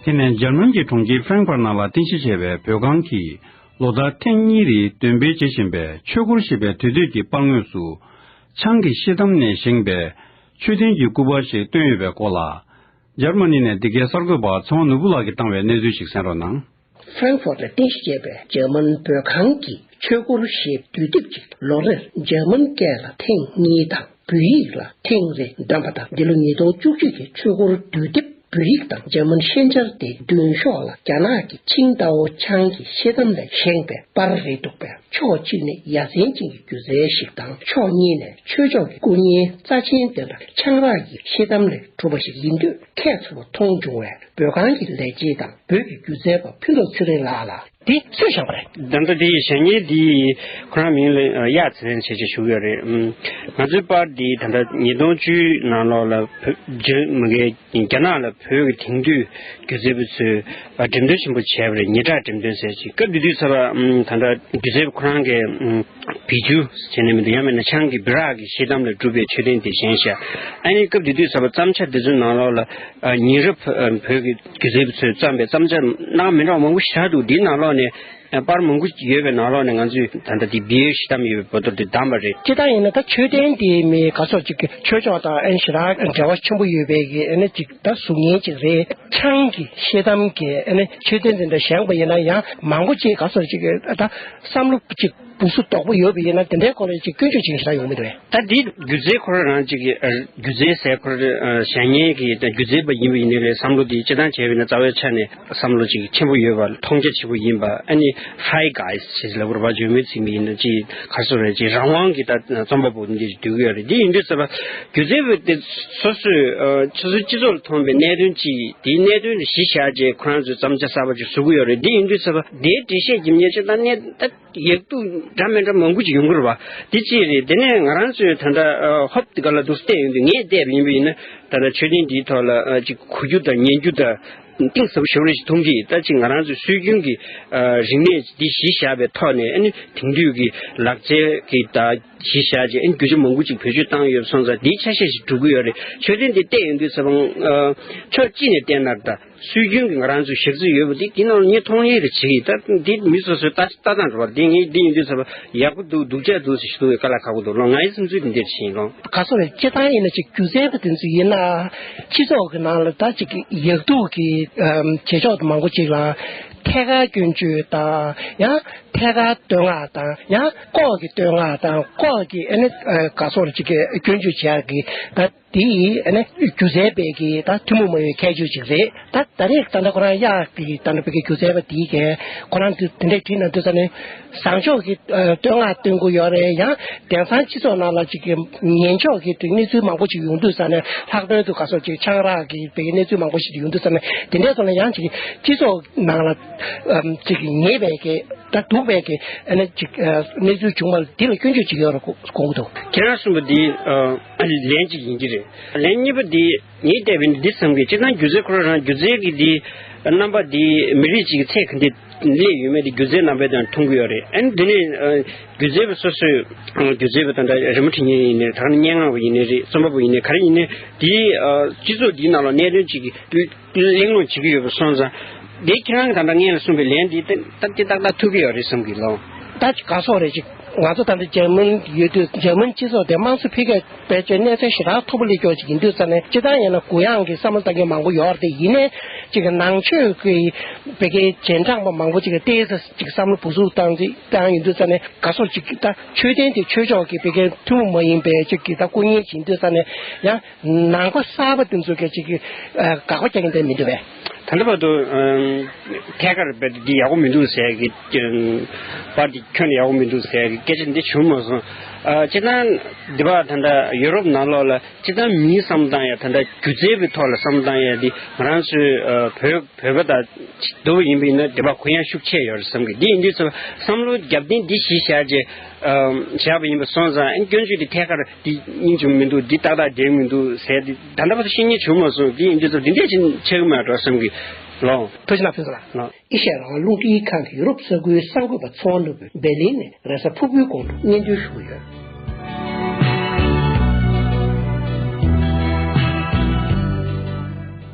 དེ་ནས་ཇར་མན་གྱི་གྲོང་ཁྱེར་ཧྥེང་ཕར་ནག་ལ་རྟེན་གཞི་བྱས་པའི་བོད་ཁང་གིས་ལོ་ལྟར་ཐེངས་གཉིས་རེའི་འདོན་སྤེལ་བྱེད་བཞིན་པའི་ཆོས་སྐོར་ཞེས་པའི་དུས་སྟོད་ཀྱི་དཔང་ངོས་སུ། ཆང་གི་ཤེལ་དམ་ནས་བཞེངས་པའི་མཆོད་རྟེན་གྱི་སྐུ་པར་ཞིག་བཏོན་ཡོད་པའི་སྐོར་ལ། ཇར་མ་ནི་ནས་འདི་གའི་གསར་འགོད་པར་ཚེ་དབང་ནོར་བུ་ལགས་ཀྱིས་བཏང་བའི་གནས་ཚུལ་ཞིག་གསན་རོགས་གནང། Frankfurt ལ་རྟེན་གཞི་བྱས་པའི་འཇར་མན་བོད་ཁང་གི་ཆོས་སྐོར་ཞེས་དུས་དེབ་ཅིག་ལོ་རེར་འཇར་མན་སྐད་ལ་ཐེངས་གཉིས་དང་བོད་ཡིག་ལ་ཐེངས་རེ་འདོན་པ་དང་འདི་ལོ་ཉིས་སྟོང་བཅུ་གཅིག་གི་ཆོས་སྐོར་དུས་དེབ་བོད་ཡིག་དང་འཇར་མན་ཤན་སྦྱར་ཏེ་མདུན་ཤོག་ལ་རྒྱ་ནག་གི་ཆིང་ཏའོ་ཆང་གི་ཤེལ་དམ་ལས་བཞེངས་པའི་པར་རིས་འདུག་པས་ཕྱོགས་གཅིག་ནས་ཡ་མཚན་ཅན་གྱི་སྒྱུ་རྩལ་ཞིག་དང་ཕྱོགས་གཉིས་ནས་ཆོས་ཕྱོགས་ཀྱི་སྐུ་བརྙན་རྩ་ཆེན་ལྡན་པ་ཆང་རག་གི་ཤེལ་དམ་ལས་གྲུབ་པ་ཞིག་ཡིན་དུས། ཁྱད་མཚར་བ་མཐོང་བྱུང་བས་བོད་ཁང་གི་ལས་བྱེད་དང་བོད་ཀྱི་སྒྱུ་རྩལ་པ་ཕུན་ཚོགས་ཚེ་རིང་ལགས་ལ། དེ་སུས་བཞག་པ་རེད། དེ་འདྲ་དེ་བཞག་ཉིན་དེ་ཁོ་རང་མིང་ལ་གཡག་ཚེ་རིང་བྱས་ཅེས་ཞུགས་ཡོད་རེད། ང་ཚོའི་པར་འདི་ད་ལྟ་ཉིས་སྟོང་བཅུའི་ནང་ལོགས་ལ་བོད་རྒྱ་མི་འགལ་རྒྱ་ནག་ལ་བོད་ཀྱི་དེང་དུས་སྒྱུ་རྩལ་པོ་ཚོས་བ་འགྲེམས་སྟོན་ཆེན་པོ་བྱས་པ་རེད་ཉི་གྲགས་འགྲེམས་སྟོན་ཟེར་ཅིག་སྐབས་དེ་དུས་ཚོར་བ་ད་ལྟ་སྒྱུ་རྩལ་པ་ཁོ་རང་གི་བེད་སྤྱོད་བྱེད་ནས་མི་འདུག་ཡང་མིན་ན་ཆང་གི་སྦི་རག་གི་ཤེལ་དམ་ལས་གྲུབ་པའི་མཆོད་རྟེན་དེ་གཞན་ཞིག་ཨ་ནི་སྐབས་དེ་དུས་ཚོར་བ་བརྩམ་བྱ་དེ་ཚོའི་ནང་ལོགས་ལ་ཉིན་རབས་བོད་ཀྱི་སྒྱུ་རྩལ་པ་ཚོས་བརྩམས་པའི་བརྩམ་བྱ་རྣམས་མི་འདྲ་བ་མང་པོ་ཞིག་ཆགས་འདུག་འདིའི་ནང་ལོགས་ནས་པར་མང་པོ་ཡོད་པའི་ནང་ལོགས་ནས་ང་ཚོས་ད་ལྟ་དེ་སྦི་ཡོལ་ཤེལ་དམ་ཡོད་པའི་བོད་དོར་དེ་བདམས་པ་རེད། ཅི་ལྟར་ཡིན་ན་ད་མཆོད་རྟེན་དེའི་མི་ག་ཚོགས་ཅིག་གིས་ཆོས་ཕྱོགས་དང་ཨ་ནི་ཞི་རག་འབྲེལ་བ་ཆེན་པོ་ཡོད་པའི་ཨ་ནི་ཅིག། ད་གཟུགས་བརྙན་གཅིག་རེད་ཆགས་ཡིན་གྱི་ཤེས་དམ་གྱི་ཆོས་དོན་འདི་འདྲ་བཞེངས་པ་ཡིན་ན་ཡང་མང་པོ་ཅིག་ག་ཚོད་ཅིག་ད་བསམ་བློ་ཅིག་སྦུག་སུ་དོག་པོ་ཡོད་པ་ཡིན་ན་དེ་འདྲའི་སྐོར་ལ་ཅིག་སྐྱོན་བརྗོད་ཅིག་བྱ་ཡོང་མི་འདོད། ད་འདི་སྒྱུ་རྩལ་འཁོར་རང་གཅིག་གི་སྒྱུ་རྩལ་ཟེར་འཁོར་བཞེངས་མཁན་གྱི་སྒྱུ་རྩལ་པ་ཡིན་པ་ཡིན་ནའི་བསམ་བློ་འདི་སྤྱི་བཏང་བྱས་པ་ཡིན་ན་རྩ་བའི་ཆ་ནས། བསམ་བློ་ཅིག་ཆེན་པོ་ཡོད་པ་མཐོང་རྒྱ་ཆེན་པོ་ཡིན་པ་ཨ་ནི Fry Guys ཞེས་ལ་བུར་བ་འཇོལ་མོའི་ཚིག་མི་ཡིན་ན་ཅི་ཡིན་གར་སོང་རེད་ཅེས་རང་དབང་གིས་ད་རྩོམ་པ་པོ་འདིར་བསྡུས་ཀྱི་ཡོད་རེད་དེ་ཡིན་དུས་ཟེར་བ་སྒྱུ་རྩལ་པོ་དེ་སོ་སོས་ཁྱེད་ཚོའི་སྤྱི་ཚོགས་ལ་ཐོན་པའི་གནད་དོན་ཅི་ཡིན་དེའི་གནད་དོན་ལ་གཞི་བཞག་རྗེས་ཁོ་རང་ཚོས་བརྩམ་བྱ་གསར་པ་ཅིག་བཟོ་གི་ཡོད་རེད་དེ་ཡིན་དུས་ཟེར་བ་དེའི་འགྲེལ་བཤད་ཀྱི་ཉེར་ལྕགས་དང་གནད་ད་ཡིག་རྡུག་འདྲ་མི་འདྲ་མང་པོ་ཅིག་ཡོང་གི་རེད་བ་དེ་ཅི་རེད་དེ་ནས་ང་རང་ཚོས་ད་ལྟ་ཧོབ་ཏི་ག་ལ་འདུག་བལྟས་ཡོང་དུས་ངས་བལྟས་པ་ཡིན་པ་ཡིན་ན་ད་ལྟ་ཆོས་ལྡན་འདིའི་ཐོག་ལ་ཅིག་གོ་རྒྱུ་དང་ཉན་རྒྱུ་དང། གཏིང་ཟབ་ཤོར་བའི་དོན་གྱིས་ད་ཅི་ང་རང་ཚོའི་སྲོལ་རྒྱུན་གྱི་རིག་གནས་འདི་གཞི་བཞག་པའི་ཐོག་ནས་ཨ་ནི་དེང་དུས་ཀྱི་ལག་རྩལ་གྱི་ད་གཞི་བཞག་ཅིང་ཨ་ནི་རྒྱུ་ཆ་མང་པོ་ཅིག་བེད་སྤྱོད་བཏང་ཡོད་པ་སོང་ཙང་དེའི་ཆ་ཤས་ཤིག་གྲུབ་ཀྱི་ཡོད་རེད་ཆོས་དོན་དེ་བལྟས་ཡོང་དུས་ཚེ་དཔང། ཕྱོགས་གཅིག་ནས་བལྟས་ན་ད་སྲོལ་རྒྱུན་གྱི་ང་རང་ཚོའི་གཞག་ཚུལ་ཡོད་པ་དེ་དེ་རྣམས་ངས་མཐོང་ཡས་རེ་བྱེད་ཀྱི་ད་དེ་མི་སོ་སོའི་ལྟ་ལྟ་སྟངས་འགྲོ་བ་དེ་ངས་འདི་ཡིན་དུས་ཚེ་དཔང་ཡག་པོ་འདུག་སྡུག་ཅག་འདུག་ཟེར་ཞིག་གསུང་བའི་བཀའ་ལ་ཁག་པོ་འདུག་ལོ་ང་ཡི་སེམས་ཚུལ་དེ་འདིར་བྱིན་ལོ། ག་ས་ལ་སྐྱེ་སྟངས་ཡིན་ན་ཅིག་རྒྱུ་མཚན་པ་དེ་ཚོ་ཡིན་ན། སྤྱི་ཚོགས་ཀྱི་ནང་ལ་ད་ཅིག་ཡག་སྡུག་གི་བྱེད་ཕྱོགས་མང་པོ་ཅིག་ལ་ཐད་ཀར་སྐྱོན་བརྗོད་དང་ཡང་ཐད་ཀར་བསྟོད་བསྔགས་དང་ཡང་ལྐོག་གི་བསྟོད་བསྔགས་དང་ལྐོག་གི་ཨ་ནི་ག་སོགས་ཅིག་གི་སྐྱོན་བརྗོད་བྱས་ཀྱི་ད་དེ་ཡིས་ཨ་ནི་སྒྱུ་རྩལ་པས་ཀྱི་ད་ཐུན་མོང་མ་ཡིན་ཁྱད་ཆོས་ཅིག་རེད། ད་ད་རེས་ད་ལྟ་ཁོ་རང་གཡག་གི་ད་ལྟ་བོད་སྐད་བསྒྱུར་མཛད་པ་འདིའི་སྐད་ཁོ་རང་འདི་འདི་འདྲས་བྲིས་ན་འདི་ཙམ་ནས་བཟང་ཕྱོགས་ཀྱི་བསྟོད་བསྔགས་བཏོན་དགོས་ཡོད་རེད་ཡང་དེང་སང་སྤྱི་ཚོགས་ནང་ལ་ཅིག་གི་ངན་ཕྱོགས་ཀྱི་དེ་གནས་ཚུལ་མང་པོ་ཅིག་ཡོང་དུས་ས་ནས་ལྷག་དོན་དུ་ག་སོག་ཅིག་ཆང་རག་གི་དེ་གནས་ཚུལ་མང་པོ་ཞིག་ཡོང་དུས་ཙམ་ནས་དེ་འདྲས་སོང་ན་ཡང་ཅིག་སྤྱི་ཚོགས་ནང་ལ་ཅིག་གི་ཉེས་པའི་སྐད་ད་སྡུག་པའི་སྐད་ཨ་ནི་ཅིག་གནས་ཚུལ་བྱུང་བ་ལ་འདི་ལ་སྐྱོན་བརྗོད་ཅིག་ཡོད་རེད་དགོངས་ཀྱི་འདུག་ཁྱེད་རང་གསུངས་པ་འདི་ལན་གཅིག་ཡིན་གྱི་རེད་ལན་གཉིས་པ་འདི། ངས་བལྟས་པས་འདི་ཙམ་གྱིས་ཅི་ལྟར་སྒྱུ་རྩལ་ཁོ་རང་རང་སྒྱུ་རྩལ་གྱི་དེའི་རྣམ་པ་དེ་མི་རིགས་གཅིག་གི་ཚད་གང་དེ་སླེབས་ཡོད་མེད་དེ་སྒྱུ་རྩལ་རྣམ་པའི་དོན་མཐོང་གི་ཡོད་རེད་ཨ་ནི་དེ་ནས་སྒྱུ་རྩལ་པ་སོ་སོས་སྒྱུ་རྩལ་པ་དང་འདྲ་རི་མོ་འཁྲིད་མཁན་ཡིན་ནའི་ད་ནི་སྙན་ངག་པ་ཡིན་ནའི་རེད་རྩོམ་པ་པོ་ཡིན་ནའི་ག་རེ་ཡིན་ནའི་དེའི་སྤྱི་ཚོགས་འདིའི་ནང་ལ་གནད་དོན་གཅིག་གླེང་སློང་བྱེད་ཀྱི་ཡོད་པ་སོང་ཙང་དེ་ཁྱེད་རང་གི་ད་ལྟ་ངས་གསུངས་པའི་ལན་དེ་ཏག་ཏག་ཏག་ཏག་ཐུག་གི་ཡོད་རེད་བསམ་གི་ལོང། ད་ཅི་ག་སོགས་རེད་ཅེ། ང་ཚོ་ད་ལྟ་འཇར་མན་ཡོད་དུས་འཇར་མན་སྤྱི་ཚོགས་དེ་དམངས་གཙོ་འཕེལ་རྒྱས། བེད་སྤྱོད་གནས་ཚད་ཞེ་དྲག་མཐོ་པོ་ལས་ཀྱང་ཅིག་ཡིན་དུས་རྩ་ནས་སྤྱི་བཏང་ཡང་ན་གུ་ཡངས་ཀྱིས་བསམ་བློ་བཏང་མཁན་མང་པོ་ཡོད་རེད་ཡིན་ནའི་ཅིག་ནང་ཆོས་ཀྱི་བེད་སྐད་རྗེས་འབྲངས་པ་མང་པོ་ཅིག་ལྟས་ས་ཅིག་བསམ་བློ་བུ་ཟུག་བཏང་རྗེས་ཀྱང་ཡིན་དུས་རྩ་ནས་དགའ་སོ་ཅིག་ད་ཆོས་ལྡན་དེ་ཆོས་ཕྱོགས་ཀྱི་བེད་སྐད་ཐུན་མོང་མ་ཡིན་པའི་ཅིག་གིས་ད་སྐུ་བརྙན་བྱེད་འདོད་ས་ནས་ཡང་ནང་པ་གསར་པ་དེ་ཚོས་ཀྱང་ཅིག་དགག་པ་རྒྱག་གིན་བསྡད་མི་འདུག་བས། ད་ལྟ་བར་དུ། ཐད་ཀར་རྦད་དེ་འདི་ཡག་པོ་མི་འདུག་ཟེར་གི། པར་འདི་ཁྱོན་ཡག་པོ་མི་འདུག་ཟེར་གི་སྐད་ཆ་འདི་བྱུང་མ་སོང། སྤྱིར་བཏང་འདི་བར་ད་ལྟ་ཡུ་རོབ་ནང་ལོགས་ལ་སྤྱིར་བཏང་མིའི་བསམ་སྟངས་ཡ་ད་ལྟ་སྒྱུ་རྩལ་པའི་ཐོག་ལ་བསམ་སྟངས་ཡ་འདི་ང་རང་ཚོའི་བོད་བོད་པ་དང་བསྡུར་བ་ཡིན་པ་ཡིན་ན་འདི་བར་གུ་ཡངས་ཤུགས་ཆེ་ཡོད་རེད་བསམ་གི་འདི་ཡིན་དུས་བསམ་བསམ་བློ་རྒྱབ་རྟེན་འདི་གཞི་བཞག་རྗེས། བཞག་པ་ཡིན་པ་སོང་ཙང་ཨ་སྐྱོན་བརྗོད་འདི་ཐད་ཀར། འདི་སྙིང་བྱུང་མི་འདུག་འདི་ཏག་ཏག་འགྲེང་མི་འདུག་ཟེར་ཏེ་ད་ལྟ་བར་དུ་ཤེས་ཉེན་བྱུང་མ་སོང་དེ་ཡིན་དུས་ཚོད་འདི་འདྲའི་ཕྱིན་ཆད་ཡོང་མ་གྲོགས་བསམ་གི་ལོང། ཐུགས་རྗེ་ལགས་ཕུན་ཚོགས་ལགས། ཨེ་ཤ་ཡ་རང་ལུགས་སྐད་ཡིག་ཁང་གི་ཡུ་རོབ་ས་ཁུལ་གསར་འགོད་པ་ཚོ་བ་ནུབ་བོད་སྦེར་ལིན་ནས་རེས་གཟའ་ཕུར་བུའི་གོང་དུ་སྙན་ཐོན་ཞུ་གི་ཡོད།